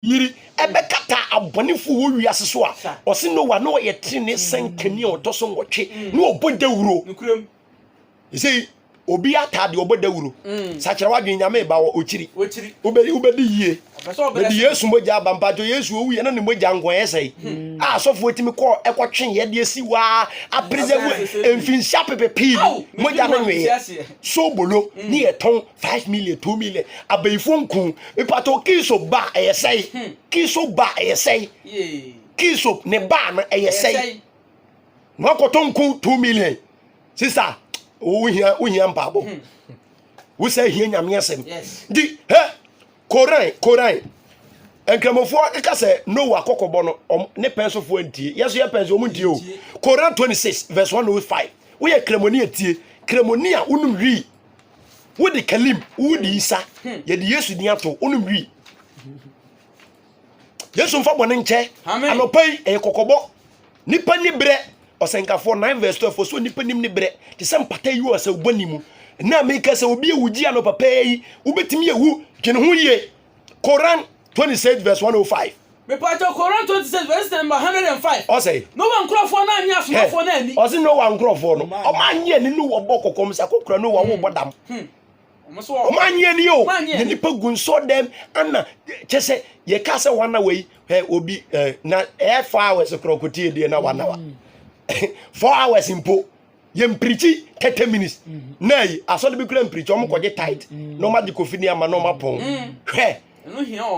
yiri ɛbɛkata abɔnefo wɔ wiase so a, ɔse Noa na ɔyɛ trenee sɛnkani a ɔtɔ so nwɔtwe na ɔbɔ dawuro. Ɛsɛ obi ataa deɛ ɔbɔ dawuro. Mm. Sakyerɛ wadwene nyame ba wɔ okyiri. Wobɛdi yie. Bɛdi Yesu mogya aba mpakyɛ Yesu owu yɛ na ne mogya nko ɛyɛ sɛe. Mm. A asɔfoɔ tumi kɔ ɛkɔtwe yɛ deɛ si waa apreserve mfinhyia pepe pii mogya no nweeɛ. So bolo ne yɛtɔn five million two million abɛyifoɔ nko mipatɔ kiso ba ɛyɛ sɛyi hmm. kiso ba ɛyɛ sɛyi kiso ne ba no ɛyɛ sɛyi na wakɔtɔ nko two million sisa wohia wohia mpaabɔ hmm. wosɛ hia nyame asɛm di hɛ koran koran nkramofoɔ ɛka sɛ noa kɔkɔbɔ no ne pɛnsofoɔ ntie yɛso yɛ pɛnso ɔmo ntie o koran twenty six verse one oh five woyɛ kramoni atie kramoni a wonim wii wode kalim wode isa yɛde yesu din ato wonom wi yesu mfa bɔne nkyɛ anɔpa yi ɛyɛ kɔkɔbɔ nipa ni berɛ ɔsɛnkafoɔ 9 vs 12 so nipa nim ne berɛ te sɛ mpata yi wɔ sɛ wobɔ ne mu na meka sɛ obi awugye anɔpa pɛɛ yi wobɛtumi awu dwene ho yie Koran 26 vs 105. Mepatɔ Koran 26 vs number 105. Ɔsɛ. Noa nkurɔfoɔ no annye asomafoɔ no anni. Ɔsɛ Noa nkurɔfoɔ no. Ɔmo annye anni no wɔ bɔ kɔkɔm sɛ akɔkura Noa wo bɔ dam. Hmm. Ɔmo annye anni o. Yɛ nipa gu nsɔ dɛm ana kyɛ sɛ yɛ ka sɛ wana wɔ yi ɛ obi ɛ na ɛ four hours korɔ kotie deɛ na wana wa hmm. four hours mpo. yɛ mpirikyi thirty minutes na yi asɔre bi kura mpirikyi wɔn kɔgye tight na wɔn agye kofi ne ama na wɔn apɔn hwɛ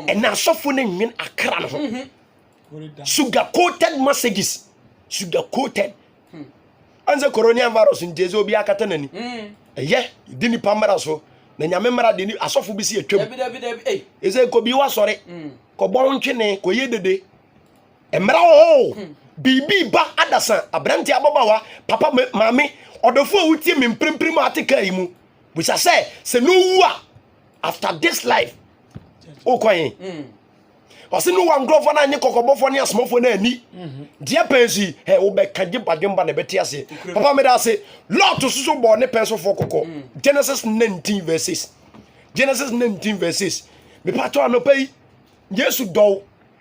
ɛna asɔfo ne nwen akra no ho sugar coated messages sugar coated ansa corona virus nti ɛsɛ obi akata n'ani ɛyɛ di nipa mmara so na nyame mmara de asɔfo bi si atwam ɛsɛ kɔbi wasɔre kɔbɔ ntwene kɔyɛ dede Mmra oo, biribi reba adasa, aberante, ababaawa, papa, maame, ɔdɔfo a wotie me mprempren a ate kaa yi mu. Bisa sɛ, sɛ na owu a, after this life, wokɔ he? Hmm. Ɔse no wa nkurɔfoɔ no anye kɔkɔbɔfoɔ ne asomafoɔ no ani. Mhm. Deɛ pɛn so yi, hɛ, wobɛka gye badwemba na ɛbɛte ase. Papa meda ase, Lot soso bɔɔ ne pɛn sofoɔ kɔkɔ. Hmm. Genesis 19 verse 6. Genesis 19 verse 6. Mepatɔ anɔpa yi, Yesu dɔw.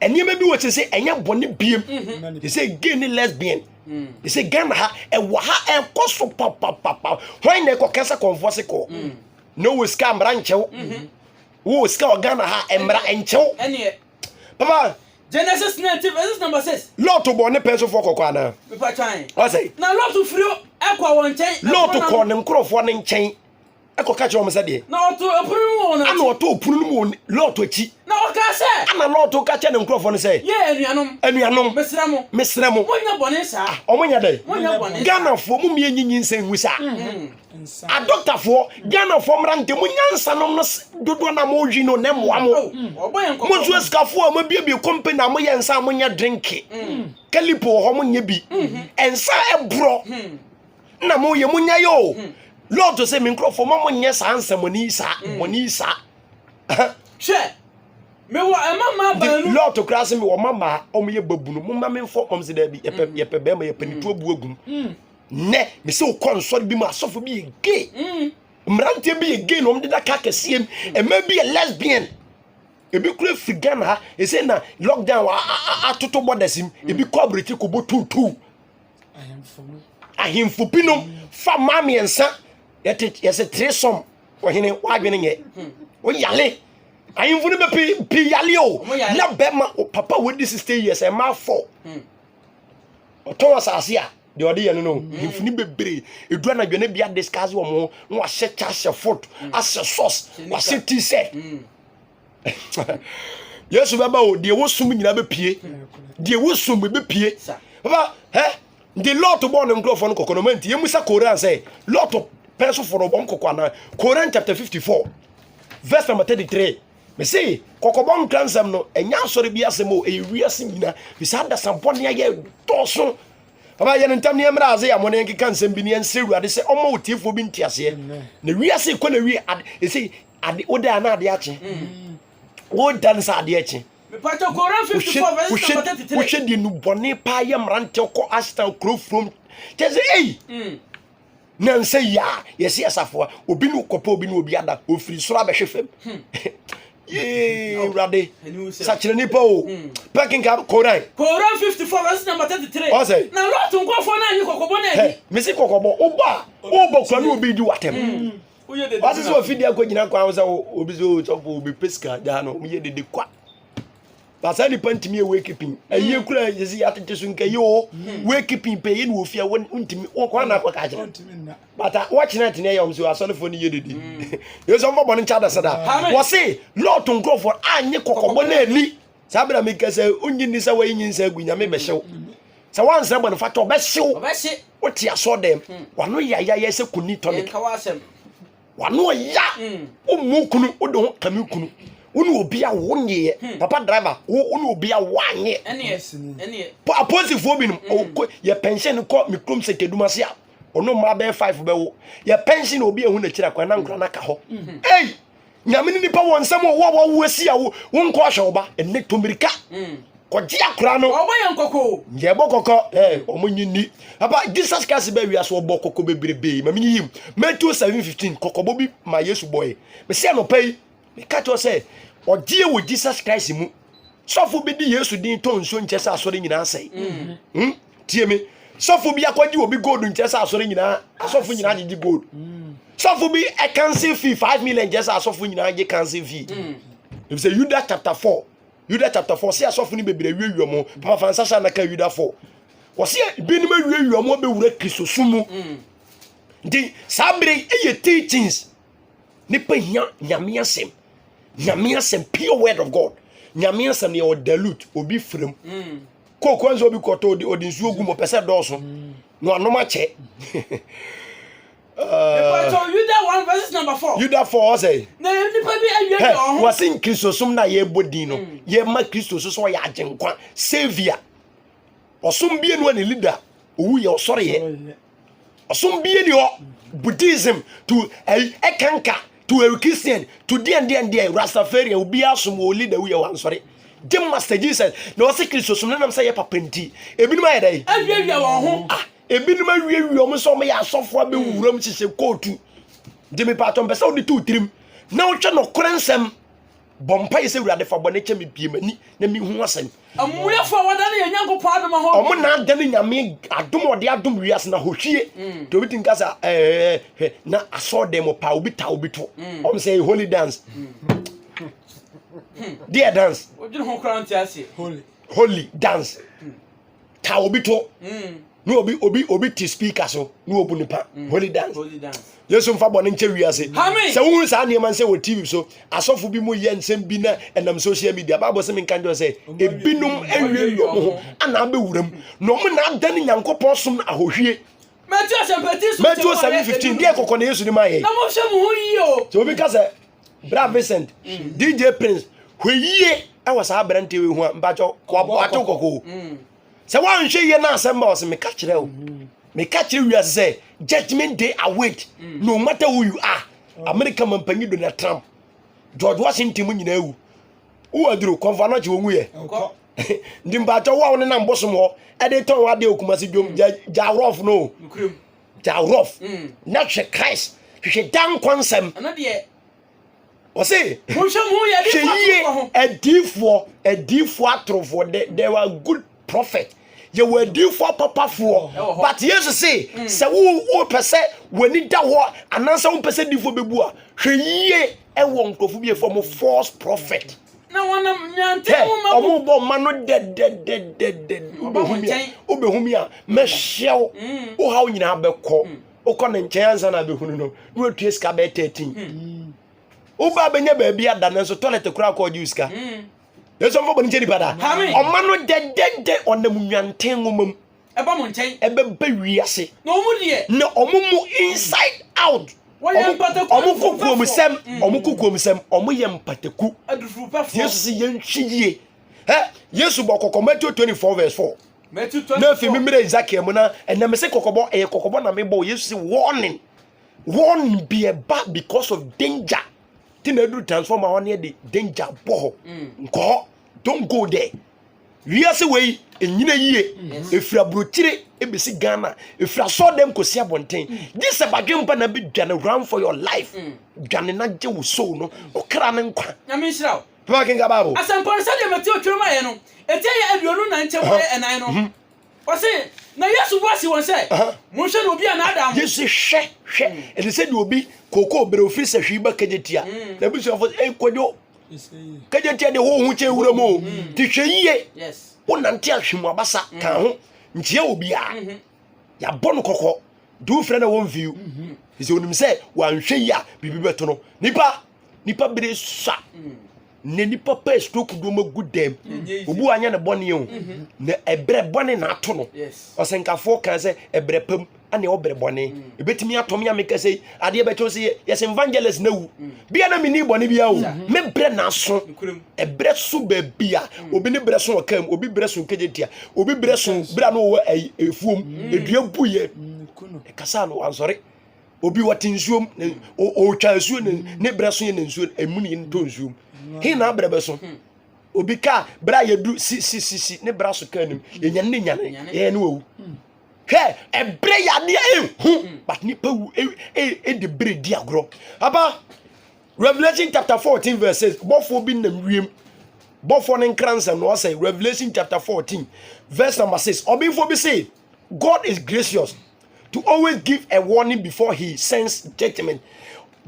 nneɛma bi wɔ kyerɛ sɛ ɛnyɛ bɔne biem te sɛ gay ne lesbian te sɛ ghana ha ɛwɔ ha ɛkɔ so papapapa hwan na ɛkɔka sɛ kɔnfoɔ se kɔɔ na wɔ sika mmara nkyɛw wɔ sika wɔ ghana ha mmara nkyɛw papa Genesis 19 verses number 6. Lot bɔ ne pɛ so fɔ kɔkɔ ana. Ɔsɛ. Na Lot firi ɛkɔ wɔn nkyɛn. Lot kɔ ne nkorɔfoɔ ne nkyɛn. ɛkɔka kyerɛ wɔn sɛ deɛ na ɔto ɛpono no mu wɔn akyi ɛna ɔto ɛpono no mu wɔn lɔɔto akyi na ɔka sɛ ɛna lɔɔto ka kyerɛ ne nkurɔfoɔ no sɛ yɛ anuanom anuanom mesrɛ mo mesrɛ mo mo nyɛ bɔne saa ah, ɔmo nyɛ dɛn mo nyɛ bɔne ghanafoɔ mo mmiɛ nyinyi nsɛn ngu saa mm-hmm. adɔktafoɔ ghanafoɔ mmra ntɛ mo nyansa nom no dodoɔ na mo ɔwi no na mmoa mo mm-hmm. mo nso asikafoɔ a mo abiebie kɔmpe na mo yɛ nsa a mo nyɛ drinke mm-hmm. kalipo wɔ hɔ mo nyɛ bi nsa ɛborɔ na moyɛ monya yɛ o hmm. lord sɛ me nkurɔfoɔ ma monyɛ saa nsɛmmɔne yi saa hmm. bɔne yi saa hwɛ mewɔ ɛma maa baanu lord koraa sɛ mewɔ ma maa ɔmoyɛ babunu momma memfɔ ɔm sɛ daabi yɛpɛ hmm. yɛpɛ bɛrima yɛpɛ ne tuo bu agum nnɛ mesɛ wokɔ nsɔre bi mu asɔfo bi yɛ gay mmeranteɛ bi yɛ gay na ɔmde da ka kɛseɛ m ɛma bi yɛ lesbian ebi kura firi ghana ha ɛsɛ na lockdown atoto bɔdasim ebi kɔ aburokyi kɔbɔ tuutuu ahemfo binom fa mmaa mmiɛnsa yɛte yɛsɛ three sum ɔhene wadwene nyɛ oyale ahemfo no bɛ pii pii yale o na bɛma o papa wo di sixty years ɛmaa fɔ ɔtɔn asase a deɛ ɔde yɛ no no ahemfo no bebree edu anadwo ne bia discuss wɔn ho na wahyɛ kyɛ ahyɛ foot ahyɛ socks wahyɛ t-shirt. yesu bɛba o deɛ wosom nyinaa bɛpie deɛ wosom bɛpie baba hɛ nti lot bɔɔ ne nkurɔfoɔ no kɔkɔ no ma nti yɛmu sɛ koran sɛ lot pɛ so fɔrɔ wɔn kɔkɔ anaa koran chapter 54 verse number 33 mese kɔkɔbɔ nkra nsɛm no ɛnyɛ asɔre bi asɛm o ɛyɛ wiase nyina mese adasa bɔne ayɛ dɔɔso baba yɛne ntam ne ɛmmerɛ ase yɛ amɔ ne nkeka nsɛm bi ne ɛnsɛ awurade sɛ ɔma otiefoɔ bi nteaseɛ na wiase kɔ na wie ɛsɛ ade wo da na ade akye wo da no sɛ ade akye wohwɛ deɛ nubɔne paa yɛ mmeranteɛ kɔ asena kuro furom kyɛ sɛ ei mm. nansa yi a yɛse asafoa obi ne kɔpɛ obi ne obi ada ɔfiri soro abɛhwe fam hmm. yee awurade sakyerɛ nipa o hmm. pɛkenka koran koran 54 verse number 33 ɔsɛ na lɔto nkɔfoɔ no anyi kɔkɔbɔ no ani mese kɔkɔbɔ wobɔ a wobɔ kura ne obi di watɛm hmm. ɔse sɛ ɔfidi akɔ gyina kwan ho sɛ obi sɛ ɔsɔfo obi pɛ sika gyaa no ɔmyɛ dede kwa na saa nipa ntumi ɛwɔ ekipin ɛyie kura yɛsi atete so nka yɛ o wɔ ekipin pɛ yɛ na ofia wɔ ntumi wɔ kwan na akɔ ka kyerɛ bata wɔkyerɛ tene ɛyɛ ɔm sɛ asɔrefoɔ no yɛ dede yɛ sɛ ɔmfa bɔ no nkyɛ adasada wɔse lɔɔto nkurɔfoɔ anyɛ kɔkɔbɔ na ani Saa bere a meka sɛ, Onnye nni sɛ wɔayi nyinsɛn agu, Nyame bɛhye wo. Sɛ woansrɛ bɔne fata, ɔbɛhye wo. Wote asɔɔ dɛm, hmm. w'ano yɛ ayayɛ sɛ koni tonic. W'ano ɔya, hmm. wommu kunu, wode ho kame kunu. Wo ne obi a wo nyeɛ, hmm. papa driver, wo ne obi a woanyɛ. Aposifoɔ binom, yɛ pɛnhyɛn no kɔ me kurom sɛ kedum ase a, ɔno mmaa bɛyɛ five bɛwo. Yɛ pɛnhyɛn na obi ehu n'akyiri akwan na nkora no aka hɔ. Ei! nyame ne nipa wɔ nsɛm ɔwɔ a wawo asi a wonkɔ ahwɛ wo ba ɛnɛ to mmirika mm. kɔgye akora no yɛ bɔ kɔkɔ ɔmo nyi ni papa jesus christ bɛ wia so ɔbɔ kɔkɔ bebrebe ma menyi yim matthew 7:15 kɔkɔbɔ bi ma yesu bɔe mesɛ anɔpa yi meka kyerɛ sɛ ɔgyeɛ wɔ jesus christ mu sɔfo bi de yesu din tɔ nsuo nkyɛ sɛ asɔre nyinaa sɛe mm. hmm? tie me sɔfo bi akɔgye obi gold nkyɛ sɛ asɔre nyinaa asɔfo nyinaa gyegye gold mm. sɔfo bi ɛkanse fee five million nkyɛ sɛ asɔfo nyinaa gye kanse fee mm. efisɛ yuda chapter four yuda chapter four sɛ asɔfo no bebree awiawia mu papa fansa hyɛ anaka yuda four wɔsɛ binom awiawia mu abɛwura kristo so mu mm. nti saa bere ɛyɛ teachings nipa hia nyame asɛm nyame asɛm pure word of god nyame asɛm yɛ ɔdalute obi firim. Mm. Coke nso obi kɔtɔ ɔde ɔde nsuo gu mu ɔpɛ sɛ dɔɔso na wanom akyɛ. Ɛfɔtɔ Yuda one verses number four. Yuda four ɔsɛ. Na nipa bi awie yɛ ɔho. Wɔsi nkirisosom na yɛbɔ din no mm. yɛma kristo so sɛ ɔyɛ agyenkwa saviour ɔsom bienu ne leader owu yɛ ɔsɔre yɛ. Ɔsom bie ni hɔ Buddhism to ɛyi ɛkanka to ɛyɛ Christian to deɛn deɛn deɛn Rastafarian obiara som wɔ leader wuyɛ wɔ ansɔre gye master Jesus na wɔsɛ Kristo som nenam sɛ yɛ papa nti ebinom ayɛ dɛ awiawia wɔn ho ah ebinom awiawia wɔn sɛ wɔn yɛ asɔfo abɛwura mu hyehyɛ kootu gye mepatɔ mpɛ sɛ wode to tirim na wotwɛ nɔkorɛ nsɛm Bɔ mpaeɛ sɛ Awurade fa bɔne kyɛ me bie m'ani na menhu asɛm. Amumuyɛfo a wɔadane yɛn Nyankopɔn adom ahɔ. Wɔn na adane Nyame adom a ɔde adom wiase na hohwie. Mm. Nti obi tumi ka sɛ ɛɛ hwɛ na asɔɔdan mu paa obi ta obi to. Mm. Wɔn sɛ holy dance. Deɛ dance. Odwene ho koraa nti ase. Holy. Holy dance. ka obi to mm. na obi obi obi te speaker so na obu nipa mm. holy dance yesu nfa bɔ ne nkyɛ wiase sɛ wohunu saa nneɛma nsɛ wɔ tv so asɔfo bi mu yɛ nsɛm bi na ɛnam social media bible sɛ menka nkyɛ sɛ ebinom awie wɔ mo ho ana abɛwuram na ɔmo na ada ne nyankopɔn som no ahohwie matthew asɛmpati so matthew 7:15 deɛ kɔkɔ na yesu ne ma yɛ na mo hwɛ mo ho yie o sɛ obi ka sɛ bra Vincent mm. DJ Prince hweyie ɛwɔ saa aberanteɛ wei ho a mpakyɛ wabɔ ato kɔkɔɔ mm. sɛ woanhwɛ yie no asɛm ba wɔ sɛ meka kyerɛ wo mm. meka kyerɛ wiase sɛ judgment day await mm. no matter who you are mm. america mampanyi donald trump george washington mu nyinaa wu wo aduro kɔmfa no kye wɔ nguyɛ nti mpakyɛ wo a wo ne nam bosom hɔ ɛde tɔn wɔ adeɛ okuma se dwom gya rɔf no da rof mm. na hwɛ christ hwehwɛ da nkwa nsɛm ɔse hwɛ yie adiifoɔ adiifoɔ atorofoɔ there were good prophet yɛwɔ adiifoɔ papafoɔ but yesu se mm. sɛ wopɛ sɛ w'ani da hɔ anaasɛ wompɛ sɛ diifoɔ bɛbu a hwɛ yie ɛwɔ nkurɔfo bi ɛfɔ mo false prophet na wɔnam nyanten ho ma wɔn bɔ mma no dɛdɛdɛdɛdɛ wobɛhu mi a wobɛhu mi a mɛhyɛ wo mm. wo haw nyinaa bɛkɔ mm. wokɔ ne nkyɛn ansa na abɛhunu no na watua sika bɛyɛ 13 mm. woba bɛnya baabi ada no nso toilet koraa kɔ ɔgye wo sika yɛsɛ mfa bɔne kyɛ nipa da ɔma no dɛdɛdɛ ɔnam nwanten nwoma mu ɛba mo nkyɛn. ɛbɛba wiase. na ɔmo deɛ. na ɔmo mu inside out. wɔyɛ mpataku ɔmo kɔ kuomsɛm ɔmo kɔ kuomsɛm ɔmo yɛ mpataku. adufurupɛfoɔ. yesu si yɛn hwi yie ɛ yesu bɔ kɔkɔ matthew twenty four verse four. matthew twenty four na fi mi mmerɛ ezekiel mu na ɛnna mi se kɔkɔbɔ ɛyɛ kɔkɔbɔ na mi bɔ yesu si warning warning bi ɛba because of danger ti na edu transformer wɔn yɛ de danger bɔ hɔ nkɔ hɔ don't go there. Wiase wei nyina yie ɛfiri aburokyire ɛbɛsi Ghana ɛfiri asɔɔdɛm kɔsi abɔnten gye sɛ badwempa na bɛdwane run for your life dwane na gye wo soul no ɔkra ne nkwa nyame nhyira wo pɛma kenka bible asɛmpɔ no sɛdeɛ Mateo twerɛ ma yɛ no ɛti ɛyɛ aduonu na nkyɛmu ɛyɛ ɛnan no Ɔse, na Yesu bua si wɔn sɛ, Monhwɛ na obi anaadaa mo. Yesu hwɛ, hwɛ, ɛte sɛ deɛ obi kookoo bere ofiri sɛ hwii ba kagya tia. Mm. Na abusuafo sɛ, ei kwadwo, kagya tia deɛ hoho kyɛ wura mu o, mm. te hwɛ yie, wonante ahwe mu abasa, mm. ka ho, nkyia wɔ biara, mm-hmm. yɛabɔ no kɔkɔ, de wofrɛ na wɔmfiw. Mm-hmm. Ɛsɛ onim sɛ wanhwɛ yi a biribi bɛto no. Nipa, nipa bere sua. Mm. na nipa pɛ stroke do ma gu dɛm obi wanyɛ ne bɔne o mhm. na ɛbrɛ bɔne na ato no ɔsɛnkafoɔ kan sɛ ɛbrɛ pam ɛne ɔbrɛ bɔne mm. ɛbɛtumi atɔ me a meka sɛ adeɛ bɛkyɛw sɛ yɛsɛ evangelist na wu mm. bia na menni bɔne bia o me brɛ na aso ɛbrɛ so baabi a mm. obi ne brɛ so ɔka mu obi brɛ so nkɛgye tia obi brɛ so berɛ a na ɔwɔ ɛfuom ɛdua buyɛ ɛkasa no ansɔre obi wɔte nsuom na ɔretwa nsuo na ne berɛ so yɛ na nsuo ɛmu ne ntɔ nsuom he na abrɛ bɛ so hmm. obi kaa berɛ a yɛdu sisisisi ne berɛ so kaa nim hmm. yɛnyane ne nyane yɛyɛ ne wawu hmm. hwɛ ɛberɛ yɛ adeɛ ɛhu but nipa wu ɛde berɛ di agorɔ aba revelation chapter fourteen verse six bɔfoɔ bi nam wiem bɔfoɔ ne nkransa na ɔsɛ revelation chapter fourteen verse number six ɔbɛnfoɔ bi se God is gracious to always give a warning before he sends judgment.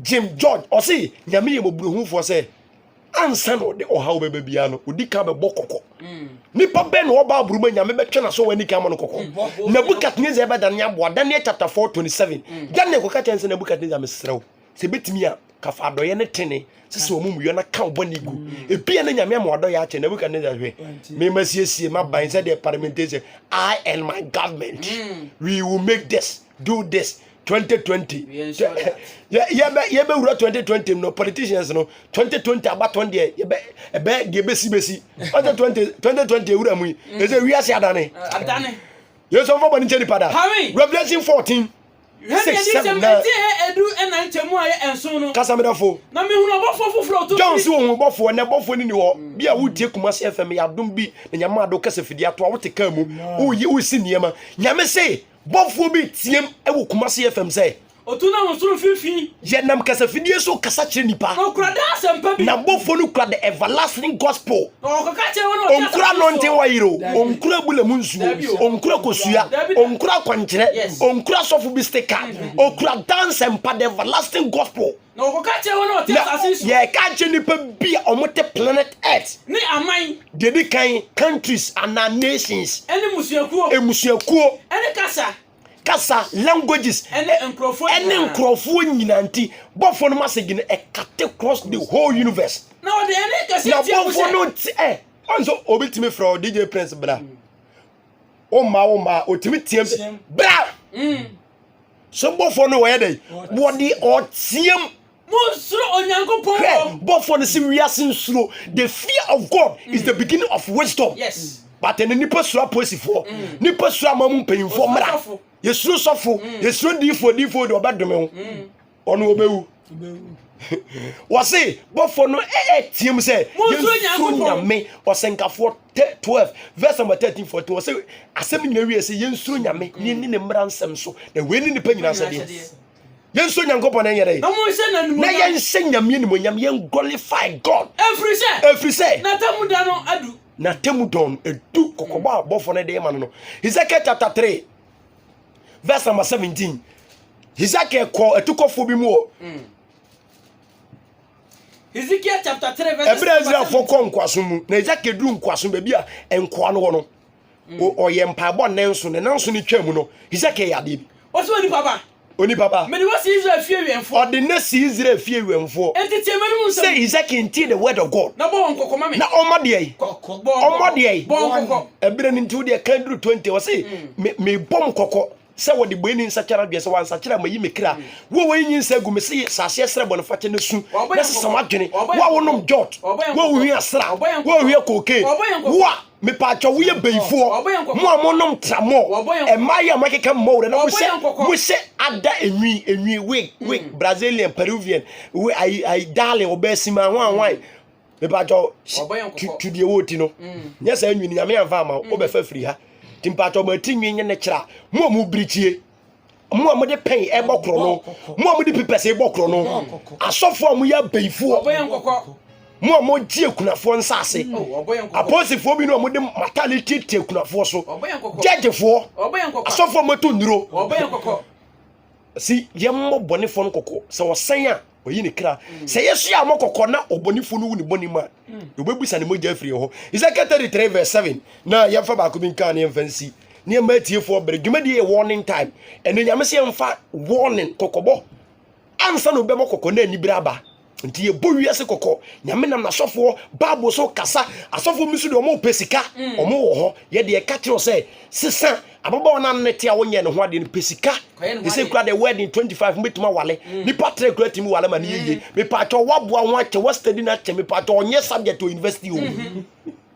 Jim George ɔse nyame yɛ mɔburohufoɔ sɛ ansa na ɔde ɔhaw bɛba biara no ɔdi kan bɛbɔ kɔkɔ mm. nipa bɛn na ɔba aburuma nyame bɛtwe na so wani kan ma no kɔkɔ mm, Nebuchadnezzar ɛbɛda ne aboa Daniel chapter 4 27 mm. Daniel kɔka kyɛn sɛ Nebuchadnezzar mesrɛ wo Sɛ ebetumi a, ka fa adɔeɛ ne tene sisi wɔn muyɔ na ka bɔne gu. Mm. Ebia na nyame ama wadɔeɛ akyɛ Nebuchadnezzar hwɛ. Mema siesie m'aban sɛdeɛ parliamentation I and my government mm. we will make this do this 2020 yɛbɛwura 2020 no politicians no 2020 abatɔn deɛ ɛbɛ deɛ bɛsi bɛsi 2020 ɛwura mu yi ɛsɛ wiase adane yɛsɔmfa bɔne nkyɛ nipa da revelation 14 Hwɛ nea nsɛm ɛte hɛ edu ɛna nkyɛmu a yɛ ɛnson no. Kasa medɔfo. Na mi hunu ɔbɔfoɔ foforɔ ɔtɔ John si ohun bɔfoɔ ɛnɛ bɔfoɔ ni ni hɔ mm. bi a wo tie kumasi fm yɛ adum bi na nyame ado kasa fidi ato a wo te kaa mu wo yi wo si nneɛma nyame se bɔfoɔ bi tiem ɛwɔ kumasi fm sɛ otu na wɔn soro fifi yɛ nam kasa fidie so kasa kyerɛ nipa na okura da asɛmpa bi na bɔfoɔ no kura the everlasting gospel ɔnkura nɔnten wayere o ɔnkura bula mu nsuo ɔnkura kosua ɔnkura akwankyerɛ ɔnkura sɔfo bi stick card ɔkura dance and mpa the everlasting gospel na yɛka kyerɛ nipa bi a wɔte planet earth ne aman deɛ di kan countries anaa nations ɛne musuakuo ɛmusuakuo ɛne kasa kasa, languages, ɛne nkurɔfoɔ nyinaa nti, bɔfoɔ no masɛ gyina ɛkate cross the whole universe. Na ɔde ɛne kɛse na bɔfoɔ no ti ɛ, ɔn so obi tumi frɛ DJ Prince bra. O ma o ma, otumi tiam bra. Mm. So bɔfoɔ no wɔyɛ dɛ, wɔde ɔtiam. Monsuro Onyankopɔn. Hwɛ, bɔfoɔ no se wiase nsuro. The fear of God is the beginning of wisdom. Yes. But ɛnɛ nipa suro apolisifoɔ, mm. nipa suro ama mu mpanyinfoɔ mmara. Yɛsuro sɔfo, mm. yɛsuro diifoɔ, diifoɔ deɛ ɔbɛdome ho. Mm. Ɔno ɔbɛwu. wɔse bɔfoɔ no ɛteam eh, eh, sɛ yɛnsuro nyame ɔsɛnkafoɔ 12 verse number 13 14 wɔse asɛm nyina wie sɛ yɛnsuro nyame ne ne mmara nsɛm so na wei ne nipa nyina sɛdeɛ yɛnsɔ nyankopɔn na ɛnyɛ dɛ na yɛnsɛ nyameɛ nimonyam yɛnglorify god ɛfiri sɛ ɛfiri sɛ n'atamu da no adu n'atamu dɔn no ɛdu kɔkɔbɔ a bɔfoɔ no de ma no no hezekiel chapter 3 verse number 17 hezekiel kɔɔ atukɔfoɔ bi mu wɔ mm. Ezekiel chapter 3 verse ɛberɛ israelfoɔ kɔ nkoasom mu na hezekiel duru nkoasom baabi a nkoa no wɔ no ɔyɛ mpaebɔ nnanso ne nanso ne twa mu no hesekiel yɛ adeɛ bi ɔsɛ onipa ba onipa ba mede wɔ si israel fie wɛmfoɔ ɔde ne si israel fie wɛmfoɔ enti tie mɛnum nsɛm sɛ hesekiel ntie the word of god na bɔ wɔn kɔkɔ ma me na ɔma deɛ yi ɔma deɛ yi bɔ wɔn kɔkɔ ɛberɛ no nti wo deɛ kan duru 20 ɔse mebɔ m kɔkɔ sɛ wɔde bɔe ni nsakyera adwene sɛ wɔansakyera a mayi me kra wo wɔyi nyi nsa agu me se sase ɛsrɛ bɔne fakyɛ na su na sesa w'adwene wo a wonom jot wo a wohwi asra wo a wohwi koke wo a mepaakyɛ woyɛ bɛyifoɔ mo a monom tramɔ ɛmaa yi a moakeka mmɔ werɛ na mohyɛ mohyɛ ada enwi enwi wig wig mm. brazilian peruvian we ayi ayi darling ɔbɛɛ sima hwan hwan mepatɔ tu deɛ wɔ ti no mm. nyɛ saa nwini nyame amfa ama mm. wobɛfa firi ha nti mepatɔ mati nwi nyɛ ne kyerɛ a mo a mo birikyie mo a mode pɛn ɛbɔ korɔ no mo a mode pipɛs ɛbɔ korɔ no asɔfoɔ a moyɛ abɛyifoɔ mo a mogye akunafoɔ nsase apolisifoɔ bi no a mode matale tietie akunafoɔ so gyɛgyefoɔ asɔfoɔ a moto nnuro si yɛmmɔ bɔnefoɔ no kɔkɔ sɛ wɔsɛn a ɔyi ne kra sɛ yɛso yɛ amɔ kɔkɔ na ɔbɔnefo no wu ne bɔne mu a yɛbɛbusa ne mogya afiri hɔ ezekiel 33 verse 7 na yɛmfa baako bi nka ne yɛmfa nsi nneɛma atiefoɔ bere dwumadie yɛ warning time ɛno nyame sɛ yɛmfa warning kɔkɔbɔ ansa na obɛmɔ kɔkɔ na anibere aba nti yɛbɔ wiase kɔkɔ nyame nam n'asɔfoɔ bible so kasa asɔfoɔ bi so deɛ ɔmo pɛ sika mm. ɔmo wɔ hɔ yɛde ɛka kyerɛ sɛ sesa ababaawa no ano te a wonyɛ ne ho adeɛ no pɛ sika ɛsɛ kura deɛ wedding 25 mobɛtumi awale mm. nipa trɛ kura tumi wale ma no yɛyie mm. mepaakyɛ woaboa ho akyɛ woastadi no akyɛ mepaakyɛ ɔnyɛ subject wɔ university o mm-hmm.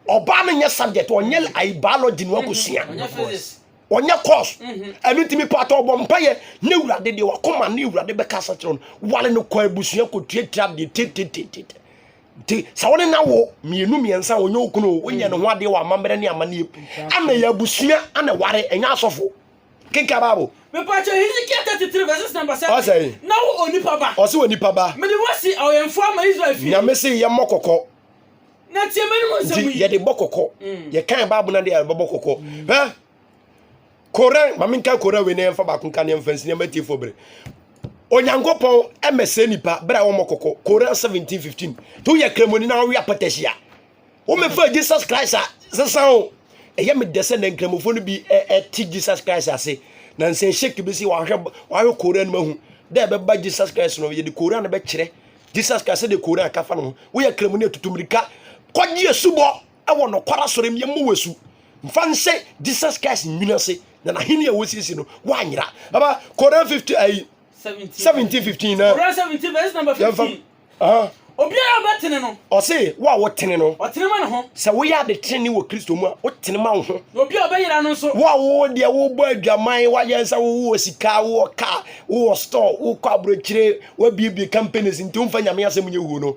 ɔbaa no nyɛ subject ɔnyɛ ayi biology no wakɔsua mm-hmm. ɔnyɛ course mm-hmm. ɛno nti mepaakyɛ ɔbɔ mpayɛ ne wurade deɛ wakoma ne wurade bɛka sa kyerɛ no wale no kɔ abusua kɔtuatua deɛ tetetete nti sɛ wo ne na wo mmienu mmiɛnsa wɔnyɛ okunu o woyɛ ne ho adeɛ wɔ amammerɛ ne amanneɛ ana yɛ abusua ana ware ɛnyɛ asɔfo kenka bible. mepatwa hezekiel thirty three verses number seven ɔsɛ na wo onipa ba ɔsɛ onipa ba mede wo asi awɛmfo ama israel fie nyame se yɛ mmɔ kɔkɔ na tie mɛnum nsɛm yi nti yɛde bɔ kɔkɔ mm. yɛkan bible na de yɛbɛbɔ kɔkɔ mm. hɛ Kore, ma menka Kore wei na yɛmfa baako nka ne yɛmfa nsi nneɛma atiefoɔ bere. Onyankopɔn mmɛsɛe nnipa bere a wɔmmɔ kɔkɔ. Kore 17:15. To yɛ kramoni na ɔwe apɔtɛsi a. Womɛfa Jesus Christ a sesan o. Ɛyɛ me dɛ sɛ na nkramofoɔ no bi ɛte Jesus Christ ase. Na nsɛn shake bi si wahwɛ wahwɛ Kore no mahu. Dɛ ɛbɛba Jesus Christ no yɛde Kore no bɛkyerɛ. Jesus Christ sɛdeɛ Kore akafa no ho. Woyɛ kramoni atutu mmirika. Kɔgye asubɔ. wɔ nokware asɔre mu yɛmmɔ wasu mfa nhyɛ jesus christ nwini ase na n'ahenni a wɔsiesie no woanyera aba koran 50 ayi 17 15 na koran 17 verse number 15 obiara a ɔbɛtene no ɔse wo a wotene no ɔtene ma ne ho sɛ woyɛ ade tenene wɔ kristo mu a wotene ma wo ho na obi a ɔbɛyera no nso wo a wo deɛ wobɔ adwaman woayɛ sɛ wowɔ sika wowɔ ka wowɔ store wokɔ aborɔkyire wabiebie companies nti womfa nyame asɛm nyɛ wuo no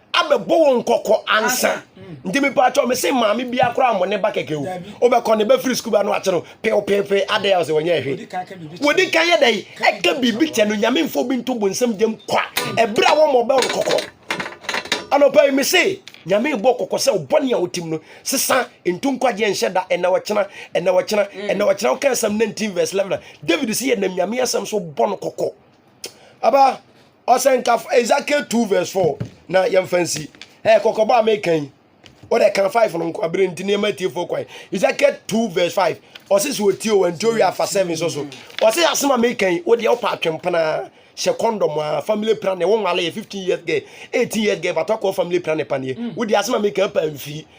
abɛbɔ wɔn kɔkɔ ansa nti mepatwɔ me se maame biara koraa mo ne ba kɛkɛ o wobɛkɔ ne bɛfiri sukuu ba no akye no pepepe adɛn a sɛ wɔnyɛ ɛhwe wɔdi kan yɛ dɛn ɛka biribi kyɛ no nyame mfo bi nto bonsam gyam kwa ɛberɛ a wɔmmɔ bɛ wo kɔkɔ anɔpa yi me se nyame bɔ kɔkɔ sɛ ɔbɔne a wotim no sesa nto nkwagyeɛ nhyɛ da ɛna wɔkyena ɛna wɔkyena ɛna wɔkyena woka asɛm 19 verse 11 david se yɛnam nyame asɛm so bɔ no kɔkɔ Aba, ɔsɛnkafo Ezekiel 2 verse 4 na yɛmfa nsi. Ɛyɛ kɔkɔbɔ a meka yi. Wode ka 5 no nko abere nti nneɛma atiefo kwan. Ezekiel 2 verse 5. Ɔse sɛ ɔtie o, ɛnti owie afa 7 so so. Ɔse asɛm a meka yi, wodeɛ wopɛ atwempena hyɛ kɔndɔm a family planning wo nwale yɛ 15 years girl 18 years girl bata kɔ family planning paneɛ mm. wodi asɛm a meka pa mfiri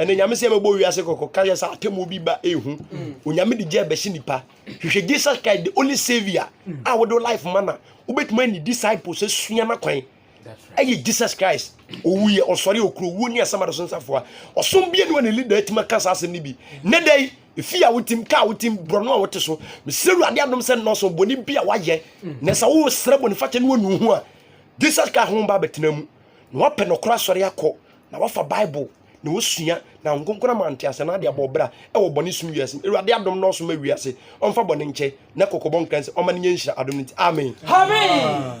ɛnna nyame sɛ ɛbɛbɔ wiase kɔkɔ ka yɛ sɛ atemmuo bi ba ehu mm. onyame de gya bɛhye nipa hwehwɛ jesus christ the only saviour mm. a wode life ma na wobɛtumi ani disciples asua no kwan ɛyɛ jesus christ owu yɛ ɔsɔre okuro wuo ne asɛm adoso nsafoa ɔsom bie ne wɔne leader atumi aka saa asɛm no bi ne dɛn efi a wotim kaa wotim borɔno a wote so mesrɛ awurade adom sɛ nnɔɔso bɔne bi a wayɛ mm. na sɛ wosrɛ bɔne fakyɛ ne wɔnu ho a jesus christ ho ba bɛtena mu na wapɛ nɔkora asɔre akɔ na wafa bible na osua na nkonkona ma ntease na ade abɔ ɔbra ɛwɔ bɔne sum wiase mu awurade adom na ɔso ma wiase ɔmfa bɔne nkyɛ na kɔkɔbɔ nkran sɛ ɔma ne nyɛ nhyira adom no nti amen amen